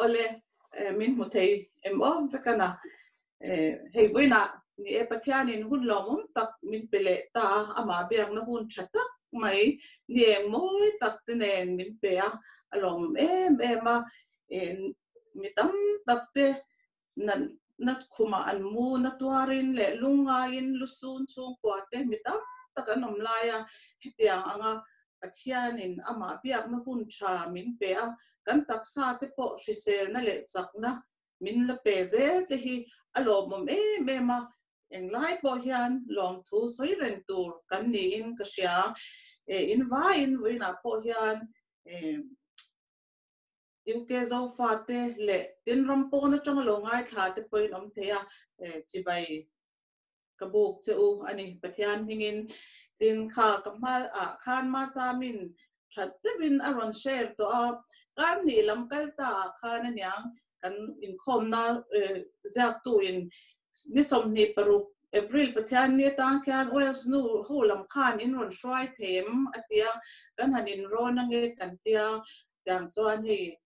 Awle, min hmu thei em awm vek a na. Hei vawiinah ni e Pathianin hun lawmawm tak min pe leh ta a, amah biakna hun tha tak mai ni eng mawi tak te nen min pe a, a lawmawm em em a. Mi tam tak te natnat khumah an mu na tuarin leh lungngaiin lu sun chhungkua te mi tam tak an awm lai a, hetiang anga Pathianin amah biakna hun tha min pe a, kan taksa te pawh hriselna leh chakna min la pe zel te hi a lawmawm em em a, englai pawh hian lawmthu sawi reng tur kan niin ka hria, in vai in vawiinah pawh hian UK zofate leh tin ram pawn atanga lo ngaithla te pawhin awm theih a, chibai ka buk che u a ni Pathian hmingin. Tin kha ka hmaah khan Machamin that deuhin a rawn share tawh a, kan nih lam kaltaah khan aniang kan inkhawmna ziaktu in ni sawmhnih paruk April Pathianni atang khian Wales nu ho lam khan in rawn hruai thei em a ti a, kan han inrawn ange kan ti a, tiang chuan hei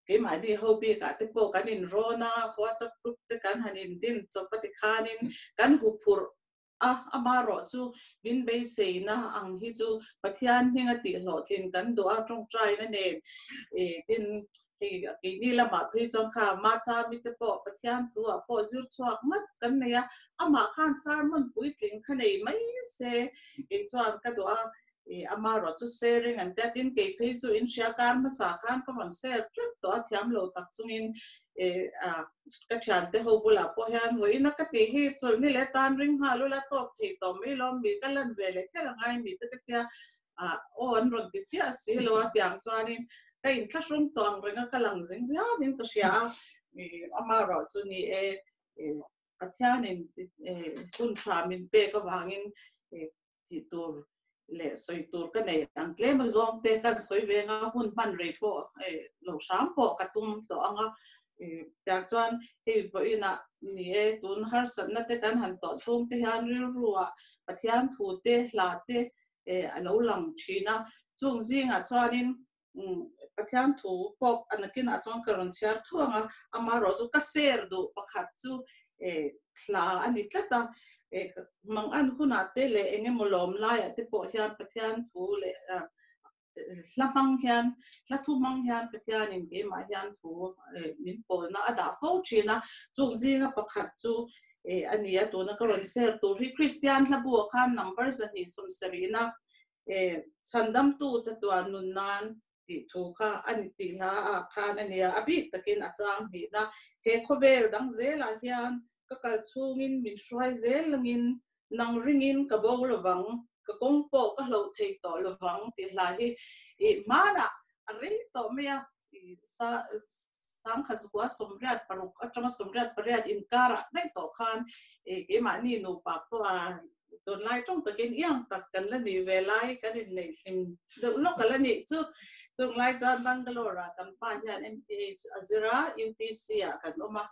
keimahni ho bik ah te pawh kan inrawn a, WhatsApp group te kan han indin chawp a tikhan in kan huphurh A, amarawh chu min beiseina ang hi chu Pathian hminga tihhlawh tlin kan duh a, tawngtaina nen e tin hei a keini lamah phei chuan kha Martha mite pawh Pathian thuah pawh zir chhuak nghat kan nei a, amah khan sermon puitlin kha nei mai se, kei chuan ka duh a, I ama ruah chu sharing an tia tin kei phei chu in hria kar hmasa khan ka rawn share tlat tawh a thiam lo tak chungin ka thian te ho bulah pawh hian vawi ina ka tih hi chawlhni leh tan ring nghal ula tawp thei tawh mai lo mi ka lan ve leh kher angai mi te ka tia aw an rawn ti chiah si lo a tiang chuanin ka in thla hrum tawh ang reng a ka lang zing viau in ka hria a I ama ruah chu ni e Pathianin hun tha min pek avangin tih tur leh sawi tur ka nei ang tlem a zawng te kan sawi veng a hun hman rei pawh lo hram pawh ka tum tawh ang a tiang chuan hei vawiin ah ni e tun harsat na te kan han tawh chhung te hian rilru ah Pathian thu te hla te a lo lang thin a chung zing ah chuan in Pathian thu pawp a nakinah chuan ka rawn chhiar thuang a, amah erawh chu ka share duh pakhat chu thla a ni tlat a, mang an hunah te leh eng emaw lawm laiah te pawh hian Pathian thu leh hla hmang hian, hla thu hmang hian Pathianin keimah hian thu min pawlna a dah fo thin a, chung zinga pakhat chu a ni a, tuna ka rawn share tur hi Kristian hlabu a khan number zahnih sawmserihna Sandamtu chatuah nun nan tih thu kha a ni tih hla ah khan a nia, a bik takin a chang hnihna. He khawvel dang zel ah hian ka kal chhung in min hruai zel lang in nang ring in ka bo lo vang, ka kawng pawh ka hloh thei tawh lo vang tih hla hi i hman ah a rei tawh mai a, sangkhat zua sawmriat paruk atanga sawmriat pariat inkarah daih tawh khan keimahni nupa pawha dawnlai tawng takin iang tak kan la nih ve lai kan inneih hlim deuh lawk a la nih chu. Chunglai chuan Bangalore-ah kan pa hian MTH a zir a, UTC-ah kan awm a.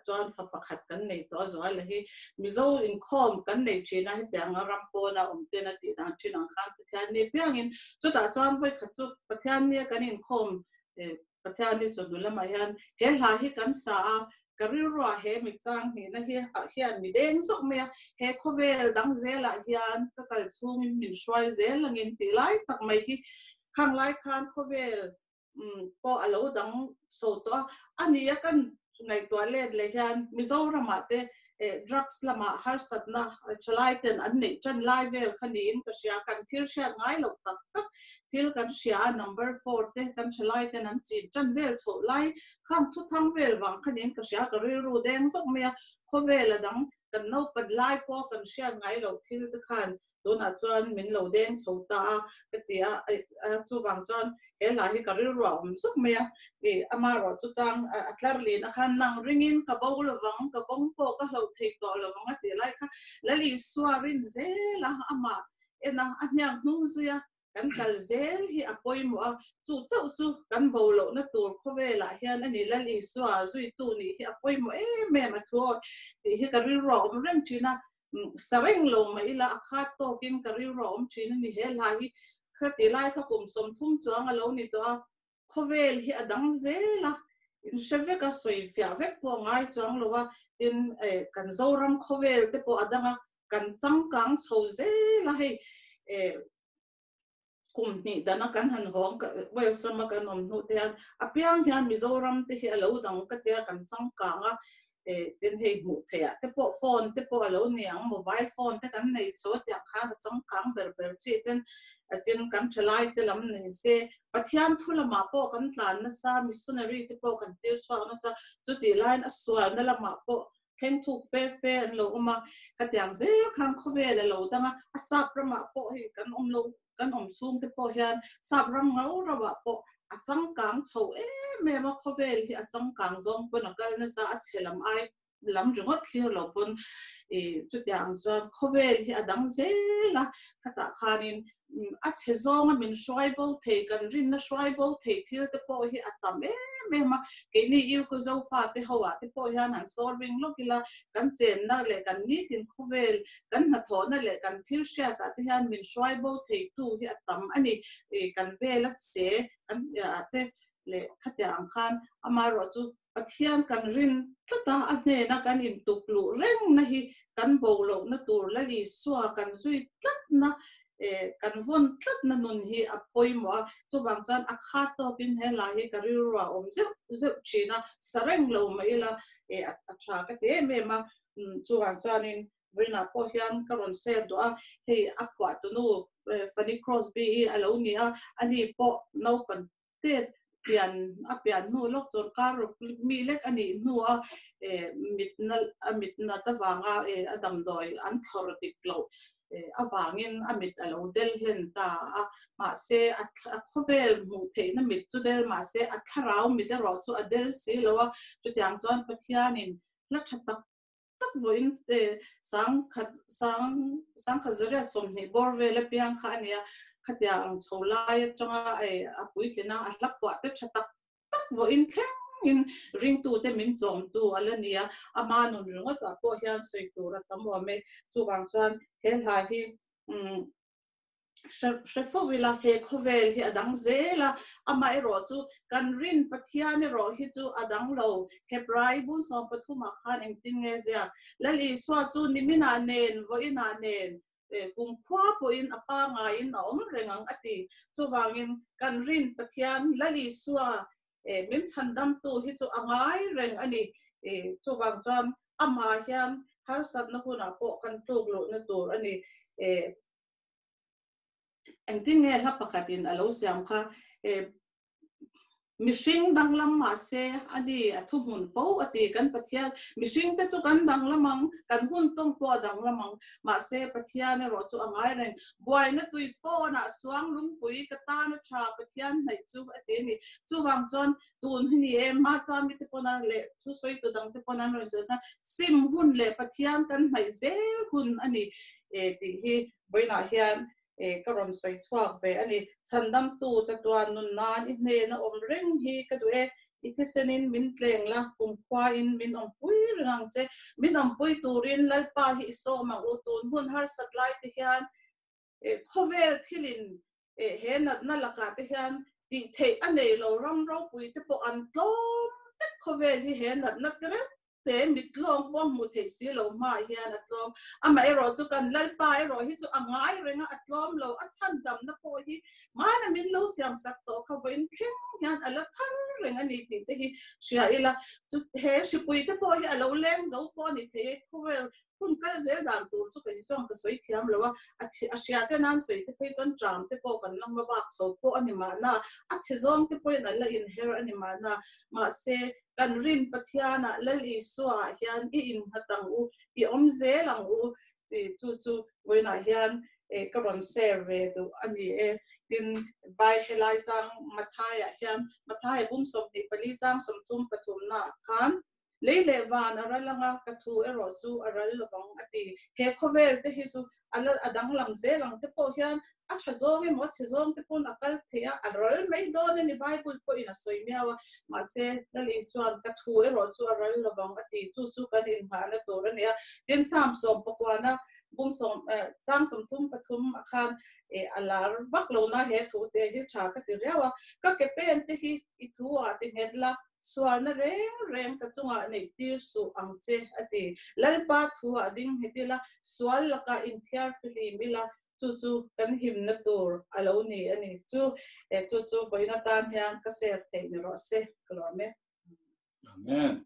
chuan fa pakhat kan nei tawh a zual hi mizo inkhawm kan nei thin a heti anga ram pawn a awm ten a tih dan thin ang khan Pathian ni apiang in chutah chuan vawikhat chu Pathian nia kan inkhawm Pathian ni chawhnu lam ah hian he hla hi kan sa a ka rilru ah he mit chang hnih na hi ah hian mi deng zawk mai a he khawvel dang zel ah hian ka kal chung in min hruai zel ang in tih lai tak mai hi khang lai khan khawvel pawh a lo dang chho tawh a. A ni a kan ngaihtuah let leh hian Mizoramah te drugs lamah harsatna thalai ten an neih tan lai vel kha niin ka hria. Kan thil hriat ngai lo tak tak thil kan hria a, number four te kan thalai ten an chin tan vel chhoh lai khang thuthang vel vang kha niin ka hria. Ka rilru deng zawk mai a, khawvel a dang kan naupat lai pawh kan hriat ngai loh thil te khan tunah chuan min lo deng chho ta a ka ti a, chuvang chuan he hla hi ka rilrua awm zawk mai a, i ama erawh chu chang a tlar lin a khan nang ringin ka bo lovang ka kawng pawh ka hloh thei tawh lovang a tih lai kha Lalisua rin zel a amah en a a hniang hnung zui a kan kal zel hi a pawimawh a, chu chauh chu kan bo lohna tur khawvelah hian a ni. Lal Isua zuitu nih hi a pawimawh em em a thu aw tih hi ka rilru a awm reng thin a, sa reng lo mah ila a khat tawkin ka rilru a awm thin a ni. He hla hi khati lai kha kum sawm thum chuang a lo ni tawh a. khawvel hi a dang zel a, in hre vek a, sawi fiah vek pawh a ngai chuang lo a, tin eh kan Zoram khawvel te pawh a dang a, kan changkang chho zel a hei eh kum hnih dan a kan han hawng kal, Wales rama kan awm hnuh te hian apiang hian Mizoram te hi a lo dang ka tia kan changkang a, tin hei hmuh theih ah te pawh phone te pawh a lo ni ang, mobile phone te kan nei chaw tiang khan a chawngkang ber ber chi ten tin kan thalai te lam nei se Pathian thu lam ah pawh kan tlan na sa missionary te pawh kan tir chhuak na sa chu tih lai in a sual na lam ah pawh thleng thuk fe fe an lo awm a ka tiang zel khan khawvel a lo dang a a sap ram ah pawh hei kan awm lo kan awm chhung te pawh hian sap ram rau rau ah pawh a changkang chho em em a, khawvel hi a changkang zawng pawn a kal nasa a chhe lam ai lam ringawt thlir lo pawn i chutiang ang chuan khawvel hi a dang zel a, khatah khanin a chhe zawng a min hruai bo thei kan rinna hruai bo thei thil te pawh hi a tam em em a, keini Irkut Zofa te ho ah te pawh hian an sawl ring lawk ila kan chenna leh kan nitin khawvel kan hnathawhna leh kan thil hriatah te hian min hruai bo theitu hi a tam a ni. Kan vel a che kan hriatah te leh khatiang ang khan amaherawh chu Pathian kan rin tlata a hnena kan intukluh rengna hi kan bolohna tur Lal Isua kan zui tlatna, kan vawn tlatna nun hi a pawimawh a. Chuvang chuan a khat tawkin he la hi ka rilruah awm zeuh zeuh thin a, sa reng lo mai ila a tha ka ti em em a. chuvang chuanin Brina pawh hian ka rawn save duh a, hei a khuah tunu Fanny Crosby hi a lo ni a, ani pawh naupan te pian a pian hnu lawk chuan kar rawk mi lek a nih hnu a mitna a mitnat avanga a damdawi an thlawrh dik loh avangin a mit a lo del hlen ta a, mahse a khawvel hmuh theihna mit chu del mahse a thlarau mit erawh chu a del si lo a, chutiang chuan Pathianin hla tha tak tak vawiin e sangkhat sang sangkhat zariat sawmhnih bawr vel apiang kha a nia, khatia ang chho lai atanga e a puitlen a, a hla puah te tha tak tak vawiin thlengin ringtute min chawmtu a la nia, ama nun ringawtah pawh hian sawi tur a tam awm e, chuvang chuan he hla hi umm. hre hre fo ila he khawvel hi a dang zel a, amah erawh chu kan rin Pathian erawh hi chu a dang lo, Hebrai bu sawm pathum ah khan engtin nge zia Lal Isua chu nimin ah nen, vawiin ah nen, kum khua pawh in a pangai in a awm reng ang a ti. Chuvang in kan rin Pathian Lal Isua min chhan damtu hi chu a ngai reng a ni. Chuvang chuan amah hian harsatna hunah pawh kan tluk luhna tur a ni. Engtin nge hla pakhatin a lo siam kha, mihring danglam mahse a ni a thu hmun fo a ti kan Pathian. Mihringte chu kan danglam ang, kan hun tawng pawh a danglam ang, mahse Pathian erawh chu a ngai reng. Buaina tui fawn ah suang lungpui ka tan a tha Pathian hnaih chu a ti a ni. Chuvang chuan tun hi ni e, mah chuan mite pawn a leh thu sawitu dang te pawn an rawn sawi kha sim hun leh Pathian kan hnaih zel hun a ni e tih hi vawiinah hian ka rawn sawi chhuak ve a ni. Chhandamtu Chatuan nun nan i hnen a awm reng hi ka duh e, I thisenin min tleng la, kumkhua in min awmpui ring ang che. Min awmpui turin Lalpa hi i sawm ang u, tun hun harsat lai te hian khawvel thil in he natna lakah te hian tihtheih a nei lo ram ropui te pawh an tlawm vek khawvel hi he natna ti reng te mi tlawm pawm hmuh theih si lo hma ah hian a tlawm. Amah erawh chu kan Lalpa erawh hi chu a ngai reng a, a tlawm lo. A chhandamna pawh hi hmana min lo siam sak tawh kha vawiin thleng hian a la thar reng a ni tih te hi hria ila. Chu he hripui te pawh hi a lo leng zo pawh a ni thei e. Khawvel hun kal zel dan tur chu ka ti chuan ka sawi thiam lo a, a chhi a hria te nan sawi te phei chuan ṭam te pawh kan lawmna bak chho pawh a ni mahna, a chhe zawng te pawhin an la inher a ni mahna, mahse, kan Rin Pathiana Lal Isuaah hian i innghat ang u, i awm zel ang u tih chu chu vawiinah hian ka rawn share ve duh a ni e. Tin, Bai helai chang Matthaiah hian, Matthai bum sawmhnih pali chang sawmthum pathumnaah khan Lei leh van a ral ang a, ka thu erawh chu a ral lovang, a ti. He khawvel te hi chu a la a danglam zel ang te pawh hian a tha zawng emaw chhe zawng te pawn a kal thei a, a ral mai dawn a ni, Bible pawhin a sawi miau a. Mahse, Lal Isua'n ka thu erawh chu a ral lovang a ti, chu chu kan innghahna tur a ni a. Tin, Psalm sawmpakuana bung sawm eh, chang sawmthum pathum ah khan eh, a lar vak lo na he thu te hi tha ka ti riau a. Ka ke pen te hi i thu a ti nghet la, sualna reng reng ka chungah neih tir suh ang che a ti. Lalpa thu a ding nghet ila, sual laka inthiar fihlim ila, chu chu kan himna tur a lo ni a ni chu. E, chu chu vawiin atan hian ka share theih ni rawh se. Ka luah met. Amen.